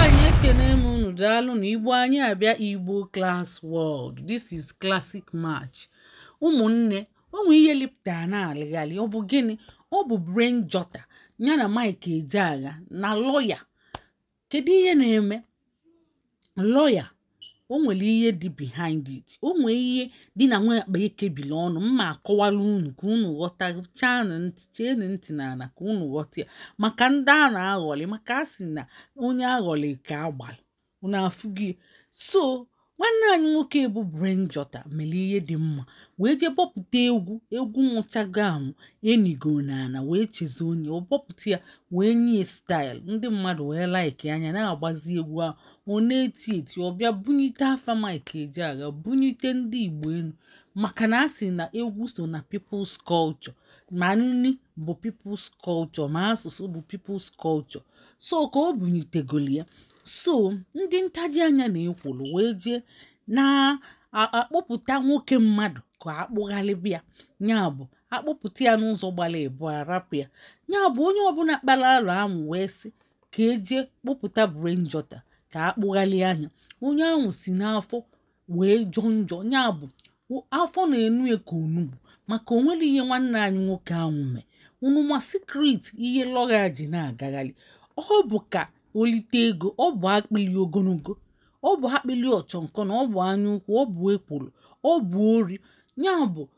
anyị ekene m unu daalụnụ igbo anyị abịa igbo class world this is classic match ụmụnne o nwee ihe lịpụta na-alịghalị ọ bụ gịnị ọ bụ brain jotter ya na mike ejeagha na lọya kedu ihe na-eme lọya o nwere ihe dị behind it o nwee ihe dị na nwa akpa e kebili ọnụ m ma-akọwalụ unu ka unu ghọta cheenụ ntị cheenụ ntị n'ala ka unu ghọta ya maka ndị a na-aghọlị maka a sị na onye a ghọlị ka a gbalị unu afụghị so nwanne anyị nwoke bụ Brain Jotter mere ihe dị mma wee jee bọpụta egwu egwu nwụchago anwụ e nigo n'ala wee chezie onye ọ bọpụta ya wee nye ya style ndị mmadụ wee like nya na-agbazi egwu ahụ ọ na-eti eti ọ bịa bunyite afa Mike Ejeagha bunyite ndị Igbo elu maka na a sị na egwu so na people's culture ma nri bụ people's culture ma asụsụ bụ people's culture so ka ọ bunyitegoli ya so ndị ntaji anya na ekworo wee jee na-akpụpụta nwoke mmadụ ka a kpụghalịba ya ya bụ a kpụpụta ya n'ụzọ gbara abụa rapụ ya ya bụ onye ọbụla kpara alụ ahụ wee sị ka e je kpụpụta brain jọta ka a kpụghalịa nya onye ahụ si n'afọ wee jọọ njọ ya bụ afọ na-enu ya ka onugbu maka o nwerọ ihe nwanne anyị nwoke ahụ mee unu ma secret ihe lọya ji na-agagharị ọ bụ ka o lite ego ọ bụ akpịli ogologo ọ bụ akpịli ịkpọ nkụ na ọ bụ anya ukwu ọ bụ ekworo ọ bụ ori ya bụ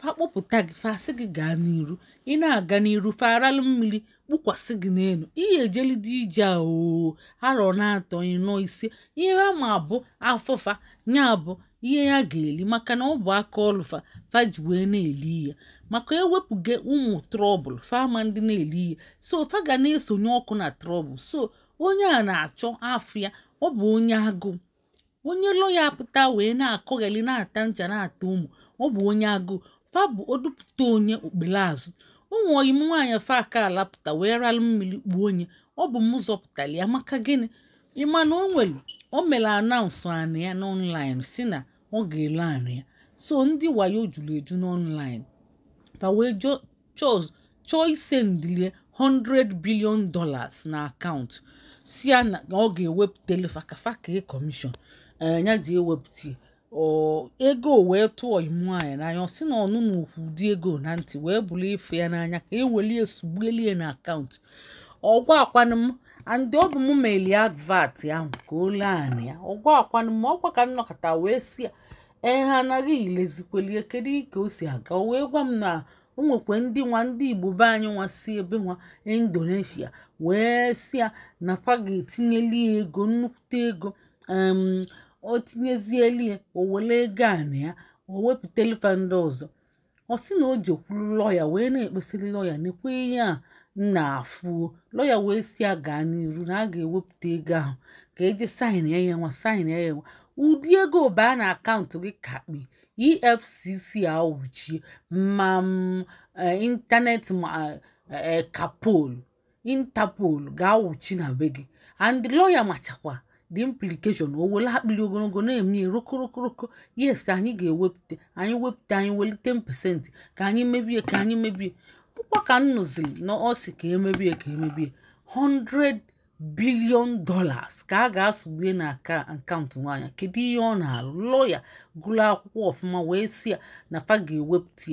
fa kpọpụta gị fa sị gị gaa n'iru ị na-aga n'iru fa aralụ mmiri kpukwasị gị n'elu ihe e jelide ije oo arọ n'atọ ịnọ ise ihe ha ma bụ afọ fa ya bụ ihe ya ga-eli maka na ọ bụ aka ọlụ fa fa ji wee na-eli ihe maka ewepụga ụmụ trouble fa amadị na-eli ihe so fa ga na-esonye ọkụ na trouble so onye a na-achọ afọ ya ọ bụ onye agụụ onye lọya a pụta wee na-akọgheli na-ata ncha na-ata Omo ọ bụ onye agụụ fa bụ odupụta onye o kpere azụ o nwee ọyị m nwaanyị fa ka lapụta wee ralụ mmiri kpuo onye ọ bụ m zọpụtara ya maka gịnị ị ma na o nwere o mere announce anị ya n'online sị na ọ ga-ele anị ya so ndị wayo juru eju n'online fa wee jụọ chọz chọọ isendịlị ya 100 billion dollars na account sị ya na ọ ga-ewepụtele fa ka fa commission a ya-eji ewepụta ego wee tụọ ọyị m nwaanyị n'anya ọ sị na ọnụ na okwu ụdị ego na ntị wee bụrụ ife ya n'anya ka e welie sugbuelie na account ọ gwa akwanụ m and ọ bụ m melụ advert ahụ ka o lee anị ya ọ gwa akwanụ m ọkwa ka m nọkata wee sị ya ee ha anaghị ilezikwelie kedu ka o si aga o wee gwa m na o nwekwa ndị nwa ndị igbo be anyị nwa si ebe nwa indonesia wee sị ya na fa ga-etinyeli ya ego nnukwute ego o tinyezieli ya o were ego anị ya o wepụtali fa ndị ọzọ ọ sị na o jekwuru lọya wee na-ekpesịrị lọya nekwe ihe ya na-afụ o lọya wee sị ya gaa n'iru na a ga-ewepụta ego ahụ a ga-eje saịn ihe nwa saịn ihe nwa ụdị ego baa na akaụntụ gị kakpi efcc awụchie ma ịntanetị ma kapolu interpol ga-awụchi na be gị and lọya machakwa the implication o wele akpịrị ogologo na-eme ya rokorokoro yes ka anyị ga-ewepụta anyị wepụta anyị weli 10% ka anyị mebe ya ka anyị mebe ya ọ kwa ka m nụziri na ọ sị ka e mebe ya ka e mebe ya 100 billion dollars ka a ga-asụgbue na akaụntụ nwaanyị kedu ihe ọ na-alụ lọya gụrụ akwụkwọ ọfụma wee sị ya na fa ga-ewepụta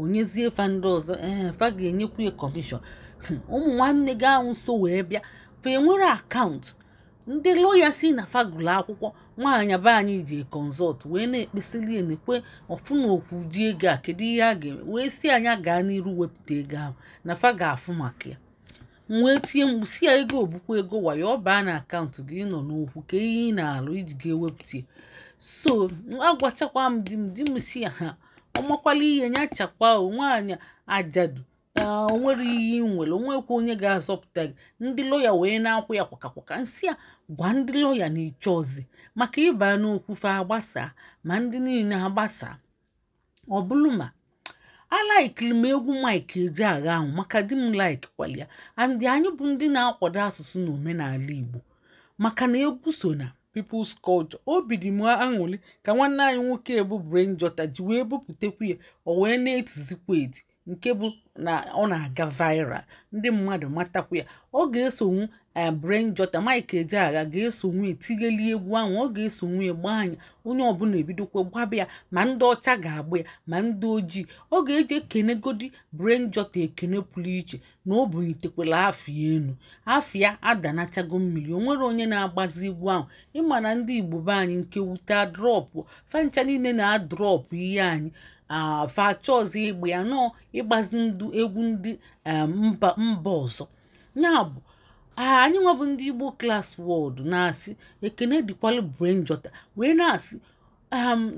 o nyezie fa ndị ọzọ ee eh, fa ga-enyekwu ya kọmishọn hmm, ụmụ nwanne gị ahụ so wee bịa fa enwere akaụntụ ndị lọya sị na fa gụlụ akwụkwọ nwaanyị be anyị ji kọnsọlt wee na-ekpesili ya nekwe ọfụ na okwu ji ego a kedu ihe a ga-eme wee sị ya gaa n'iru wepụta ego ahụ na fa ga-afụ maka ya m wee tie mkpu sị ya ego ọ bụkwa ego wayo ọ baa na akaụntụ gị ị nọ n'okwu kedu ihe ị na-alụ ị ji ga-ewepụta ya so agwachakwa m di m di m sị ya ha ọ makwala ihe ya chakwa nwaanyị ajadu o nwere ihe ị nwere o nwekwa onye ga-azọpụta gị ndị lọya wee na-akwụ ya kwakakwaka m sị ya gwa ndị lọya na ị chọzi maka ịba n'okwu fa agbasa ma ndị niile agbasa ọ bụrụ ma alaikiri m egwu mike ejeagha ahụ maka di m laikkwalị ya and anyị bụ ndị na-akwado asụsụ na omenala igbo maka na egwu so na People's Culture obi dị m aṅụrị ka nwanne anyị nwoke bụ Brain Jotter ji wee bupụtakwu ya o wee na-etizikwa eti nke bụ na ọ na-aga viral ndị mmadụ matakwa ya ọ ga-esonwu eh, Brain Jotter Mike Ejeagha ga-esonwu etinyeli egwu ahụ ọ ga-esonwu agba ya onye ọbụla ebidokwa gbaba ya ma ndị ọcha ga-agba ya ma ndị ojii ọ ga-eji ekenegodi Brain Jotter ekene pụrụ iche na o bunitekwala afa ya elu afa ya adanachago mmiri o nwere onye na-agbazi egwu ahụ ị ma na ndị igbo be anyị nke wute adrọpụ fa ncha niile na-adrọpụ ihe anyị fa achọzi ịgba ya nọọ ịgbazi ndị egwu ndị mba mba ọzọ ya bụ anyị nwa bụ ndị igbo klas wọdụ na-asị ekene dịkwalụ brain jotter wee na-asị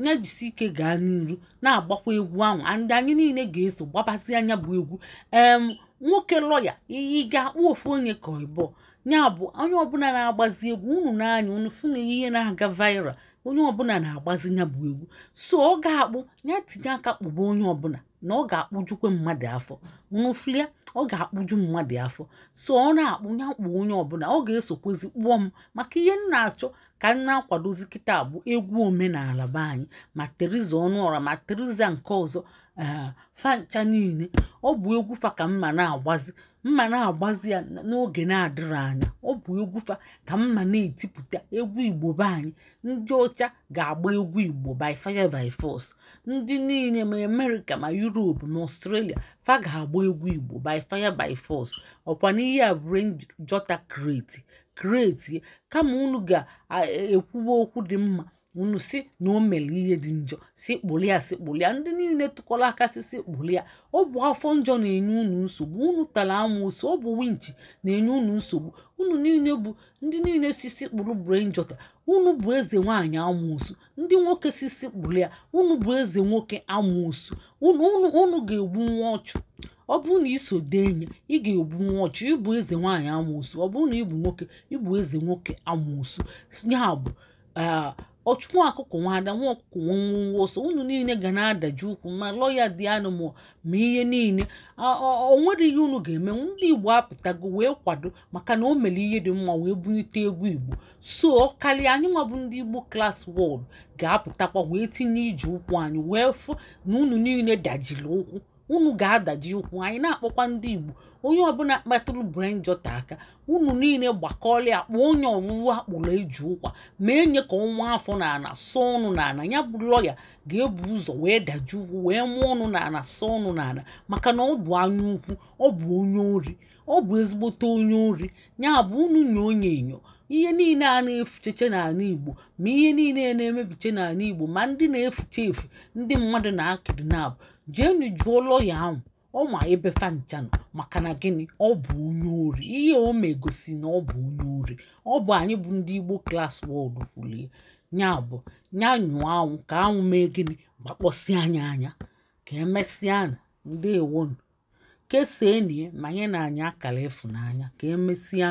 ya jisi ike gaa n'iru na-agbakwa egwu ahụ ndị anyị niile ga-eso gbabazị nya bụ egwu em nwoke lọya ị ga-akpụ ofu onye ka ị bụ ya bụ onye ọbụla na-agbazi egwu unu n'anya unu fụ na ihe na-aga viral onye ọbụla na-agbazi ya bụ egwu so ọ ga-akpụ ya tinye aka kpụba onye ọbụla na ọ ga-akpụjukwe mmadụ afọ unu fụlịa ọ ga-akpụju mmadụ afọ so ọ na-akpụ ya kpụ onye ọbụla ọ ga-esokwezi kpụọ m maka ihe m na-achọ ka m na-akwadozi kịta bụ egwu omenala be anyị ma theresa ọnụọra ma theresa nke ọzọ ee fa ncha niile ọ bụ egwu fa ka m ma na-agbazi m ma na-agbazi ya n'oge na-adịrọ anya ọ bụ egwu fa ka m ma na-etipụta egwu igbo be anyị ndị ọcha ga-agba egwu igbo by fire by force ndị niile ma amerịka ma yuropu ma ọstrelia fa ga-agba egwu igbo by fire by force ọkwa n'ihe a brain jotter create create kama unu ga-ekwuwe okwu dị mma unu sị na o mere ihe dị njọ sị kpụlụ ya sị kpụlụ ya ndị niile tụkọrọ aka sị sị kpụlụ ya ọ bụ afọ njọ na-enye unu nsogbu unu tara amoosu ọ bụ winchi na-enye unu nsogbu unu niile bụ ndị niile sị sị kpụrụ brain jotter unu bụ eze nwaanyị amoosu ndị nwoke sị sị kpụrụ ya unu bụ eze nwoke amoosu unu unu unu ga-egbunwu ọchụ ọ bụrụ na i so denye ị ga-egbunwu ọchụ ị bụ eze nwaanyị amoosu ọ bụrụ na ị bụ nwoke ị bụ eze nwoke amoosu ya bụ ah, ọchụ nwa ọkụkọ nwe ada nwa ọkụkọ nwe nwọ nwọ ọsọ unu niile ga na-adaji ụkwụ ma lọya dị anụ ma ma ihe niile Ah, ọ- ọ nwere ihe unu ga-eme ndị igbo apụtago wee kwado maka na o mere ihe dị mma wee bunite egwu igbo so ọ karịa anyị nwa bụ ndị igbo class world ga-apụtakwa wee tinye iji ụkwụ anyị wee fụ na unu niile dajiri ụkwụ unu ga-adaji ụkwụ anyị na-akpọkwa ndị igbo onye ọbụla kpatụrụ brain jotter aka unu niile gbakọọla ya kpọọ onye ọwụwụ akpụrụ eji ụkwa ma enye ka ọ maa afọ n'ana sụọ ọnụ n'ana ya bụ lọya ga-ebu ụzọ wee daji ụkwụ wee maa ọnụ n'ana sụọ ọnụ n'ana maka na ọ bụ anya ukwu ọ bụ onye ori ọ bụ ezigbote onye ori ya bụ unu nyoo nya enyo ihe niile a na-efucheche n'ala igbo ma ihe niile na-emebiche n'ala igbo ma ndị na-efuche efu ndị mmadụ na-akidnap jeenụ jụọ lọya ahụ ọ ma ebe fa ncha nọ maka na gịnị ọ bụ onye ori ihe o megosi na ọ bụ onye ori ọ bụ anyị bụ ndị igbo class world kwulie nya bụ nya nyụọ anwụ ka anwụ mee gịnị gbakpọsịa nya anya ka emesịanụ ndewonụ kesaanụ ya ma nyenụ anyị akara ịfụnanya ka emesịa